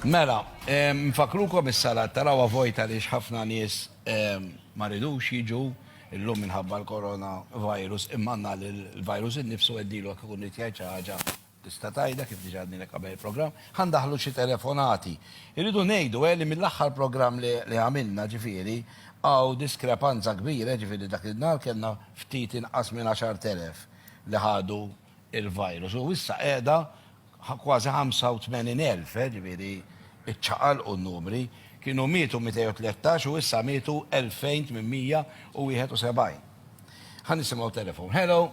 Mela, nfakrukom is-salat tarawa vojta li ħafna nies ma ridux jiġu illum minħabba l-korona virus immanna li l-virus innifsu għeddilu għak ikun jitjaj ħaġa tista' tajda kif diġà għadni qabel il-programm, ħandaħlu xi telefonati. Irridu ngħidu eh, li mill-aħħar programm li għamilna ġifieri għaw diskrepanza kbira ġifieri dak il-nar kellna ftit inqas minn 10,000 li ħadu il-virus u issa qiegħda kważi 85,000, ġifieri ċċaqalqu n-numri, kienu mietu 213 u issa mietu 2,871. Ħa nisimgħu telefon. Hello?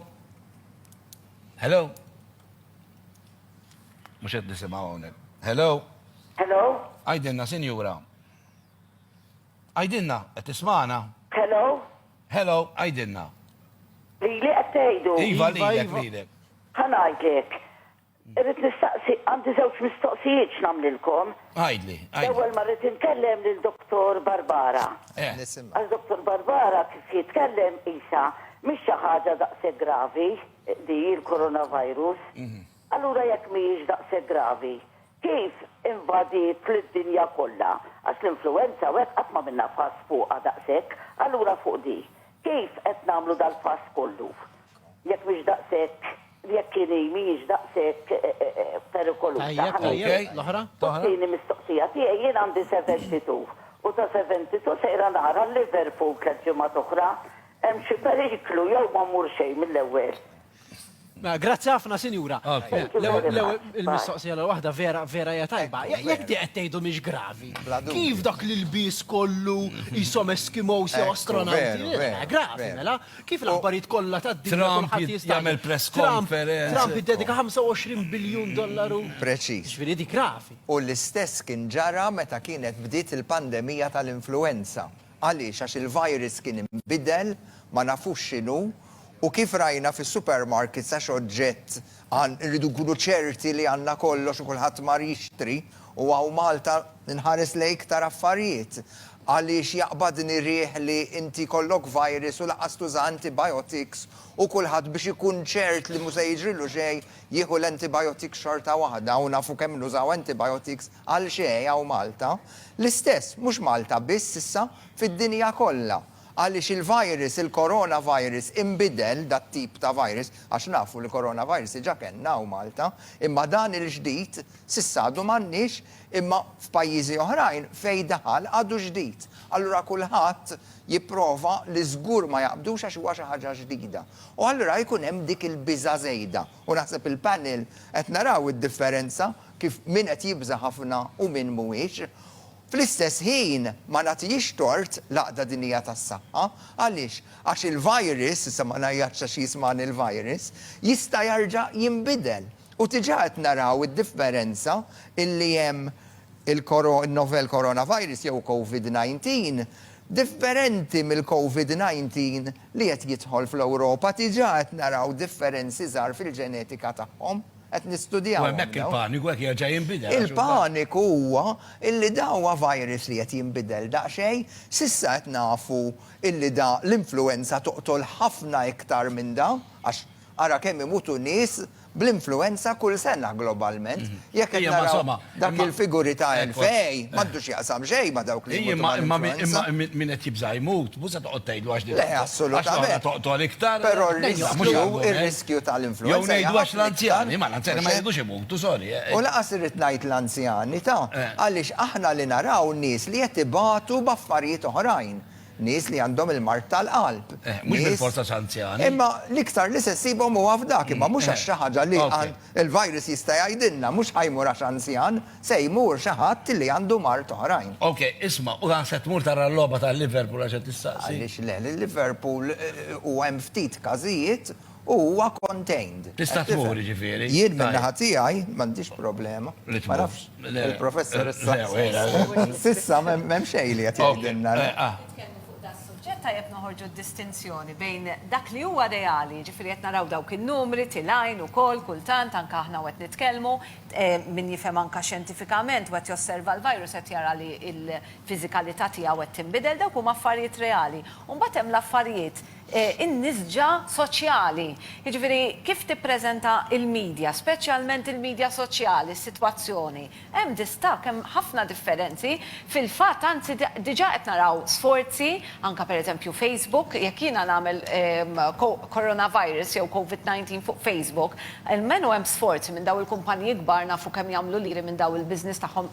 Hello? Mhux qed nisimgħu hawnhekk. Hello? Hello? Għidilna, sinjura. Għidilna, qed tismagħna? Hello? Hello, għidilna. Lili qed tgħidu? Iva, lilek, lilek. Ħa ngħidlek. Irrid nistaqsi, għandi żewġ mistoqsijiet x'nagħmlilkom. Għidli, għidli. L-ewwel ma rrid inkellem lil Dottor Barbara. Eh. Nisimgħek. Għax Dottor Barbara kif jitkellem qisha mhix xi ħaġa daqshekk gravi di l-coronavirus. Allura jekk mhijiex daqshekk gravi, Kif invadiet lid-dinja kollha, għax l-influwenza u hekk qatt m'għamilna fass fuqha daqshekk, allura fuq di, kif qed nagħmlu dal-fass kollu, jekk mhix daqshekk, jekk hi mhijiex daqshekk perikoluża? Ħa nieqaf. U t-tieni mistoqsija tiegħi, jien għandi seventy two, u ta' seventy two sejra nara l-Liverpool tliet ġimgħat oħra, hemm xi periklu jew ma mmur xejn mill-ewwel? Mela, grazzi ħafna, sinjura. Il-mistoqsija l-waħda vera vera hija tajba. Jekk di qed tgħidu mhix gravi. Kif dak li l-bies kollu jisom Eskimos jew astronauti? Mela, gravi, mela. Kif l-aħbarijiet kollha tad-dinja kulħadd jista' jagħmel press conference. Trump iddedika 25 biljun dollaru. Preċiż. Ġifieri di gravi. U l-istess kien ġara meta kienet bdiet il-pandemija tal-influwenza. Għaliex? Għax il-virus kien inbidel, ma nafux x'inhu, u kif rajna fis-supermarkets għax oġġett għan, irridu nkunu ċerti li għandna kollox u kulħadd mar jixtri, u hawn Malta nħares lejn iktar affarijiet. Għaliex jaqbadni riħ li inti jkollok virus u lanqas tuża antibiotics u kulħadd biex ikun ċert li mhu se jiġrilu xejn jieħu l-antibiotics xorta waħda u nafu kemm nużaw antibiotics Għal xejn hawn Malta. L-istess, mhux Malta biss issa, fid-dinja kollha. Għaliex il-virus, il-coronavirus, inbidel, dat-tip ta' virus, għax nafu li coronavirus diġà kellna hawn Malta, imma dan il-ġdid, s'issa għadu m'għandniex, imma f'pajjiżi oħrajn fejn daħal għadu ġdid. Allura kulħadd jipprova li żgur ma jaqbdux għax huwa xi ħaġa ġdida. U allura jkun hemm dik il-biża' żejda. U naħseb il-panel qed naraw id-differenza kif min qed jibża' ħafna u min mhuwiex. Fl-istess ħin ma nagħtihiex tort l-Għaqda Dinjija tas-Saħħa. Għaliex? Għax il-virus, issa ma ngħajjatx għax jismagħni l-virus, jista' jarġa' jinbidel. U diġà qed naraw id-differenza illi hemm il-koro, in-novel coronavirus jew Covid 19 differenti mill-Covid 19 li qed jidħol fl-Ewropa diġà qed naraw differenzi żgħar fil-ġenetika tagħhom, qed nistudjawhom dawn. U hemmhekk il-paniku qed jerġa' jinbidel. Il-paniku huwa illi dawn huwa virus li qed jinbidel daqsxejn, s'issa qed nafu illi da l-influwenza toqtol ħafna iktar minn da, għax ara kemm imutu nies bl-influwenza kull sena globalment. Jekk qed naraw dak il-figuri ta' Envej, m'għandu x'jaqsam xejn ma' dawk li jmutu mal-influwenza. Imma min qed jibża' jmut, mhux se toqgħod tgħidlu għax din. Le, assolutament. Għax toqtol iktar. Però r-riskju tal-influwenza. Jew ngħidu għax l-anzjani, ma l-anzjani ma jridux imutu, sorry. U lanqas irrid ngħid l-anzjani ta', għaliex aħna li naraw nies li qed ibatu b'affarijiet oħrajn. Nies li għandhom il-mard tal-qalb. Eh, mhux bil-fors għax anzjani. Imma l-iktar li se ssibhom huwa f'dak, imma mhux għax xi ħaġa li l-virus jista' jgħidilna, mhux ħa jmur għax anzjan, se jmur xi ħadd li għandu mard oħrajn. Ok, isma', u se tmur tara l-logħba tal-Liverpool għax qed tistaqsi? Għaliex le, l-Liverpool huwa hemm ftit każijiet U huwa contained. Tista' tmur, jiġifieri. Jien min-naħa tiegħi m'għandix problema. Li tmur. Ma nafx il-Professor issa. S'issa m'hemm xejn li qed jgħidilna. Nitkellmu fuq dan is-suġġett tajjeb noħorġu d-distinzjoni bejn dak li huwa reali, jiġifieri qed naraw dawk in-numri tilgħin ukoll kultant anke aħna u qed nitkellmu, min jifhem anke xjentifikament u qed josserva l-virus qed jara li l-fiżikalità tiegħu qed tinbidel, dawk huma affarijiet reali. U mbagħad hemm l-affarijiet in-nisġa soċjali. Jiġifieri kif tippreżenta l-midja, speċjalment il-midja soċjali, s-sitwazzjoni. Hemm distakk, hemm ħafna differenzi. Fil-fatt, anzi diġà qed naraw sforzi, anke pereżempju Facebook, jekk jiena nagħmel coronavirus jew covid 19 fuq Facebook, almenu hemm sforzi minn dawn il-kumpaniji kbar nafu kemm jagħmlu liri minn dawn il-business tagħhom.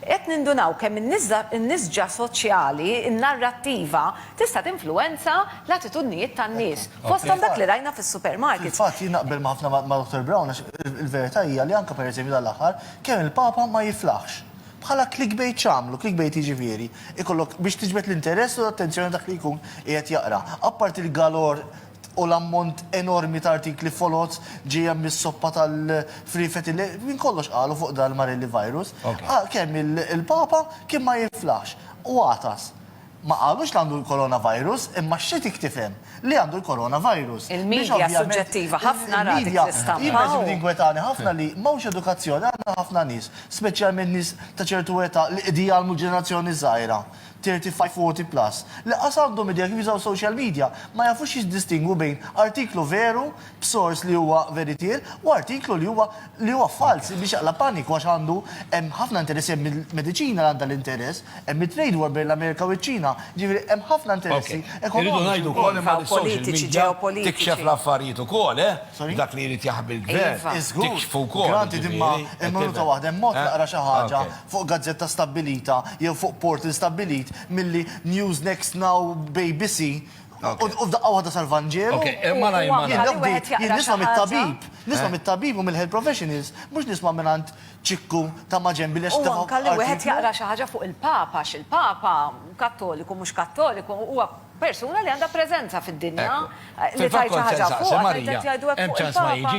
Qed nindunaw kemm in-nisġa soċjali, in-narrattiva, tista' tinfluwenza l-attitudnijiet tan-nies, fosthom dak li rajna fis-supermarkets. Fil-fatt, jien naqbel ma' ħafna ma' Dottor Brown għax il-verità hija li anke pereżempju dan l-aħħar kemm il-Papa ma jiflaħx. Bħala clickbait x'għamlu? Clickbait jiġifieri ikollok biex tiġbed l-interess u l-attenzjoni ta' dak li jkun qiegħed jaqra. Apparti l-galor u l-ammont enormi ta' artikli foloz ġejja mis-soppa tal-friefeti li minn kollox qalu fuq dan l-Marelli virus, kemm il-Papa kien ma jinflaħx u għatas. Ma qalux li għandu l-coronavirus imma x-xetiek tifhem li għandu l-coronavirus. Il-media suġġettiva ħafna ra dik l-istampa. Jien per eżempju tinkwetani ħafna li m'hawnx edukazzjoni, għandna ħafna nies, speċjalment nies ta' ċertu età li qegħdin jgħallmu l-ġenerazzjoni żgħira. 35, 40 plus, li qas għandhom idea kif jużaw social media, ma jafux jiddistingwu bejn artiklu veru, b'sors li huwa veritier, u artiklu li huwa li huwa falz, li jxaqlab paniku għax għandu hemm ħafna interessi, hemm il-mediċina li għandha l-interess, hemm it-trade war bejn l-Amerika u ċ-Ċina, jiġifieri hemm ħafna interessi ekonomiċi wkoll. Iva, u politiċi, ġeopolitiċi. Tikxef l-affarijiet ukoll, eh? Sorry? Dak li jrid jaħbi l-gvern. Iva. Żgur. Tikxfu wkoll. Granted, imma hemm minuta waħda, hemm mod taqra xi ħaġa fuq gazzetta stabbilita jew fuq portal stabbilit milli News Next Now b'ABC u f'daqqa waħda sar Vanġelu. Okej, eh, malajr, Huwa malajr. qali wieħed jaqra Jien xi nisma' ħaġa. mit-tabib, nisma' mit-tabib u mill-health professionals, mhux nisma' mingħand ċikku ta' ma' ġenbi li għax U anke li wieħed artiklu. jaqra xi ħaġa fuq il-Papa għax il-Papa, Kattoliku, mhux Kattoliku, huwa persuna li għandha preżenza fid-dinja. Ekku. Li Fil-fatt tgħid xi kont se ħaġa nsaqsi, fuqha, tgħid Marija, qed jgħidu hekk hemm fuq ċans ma il-Papa. jiġix?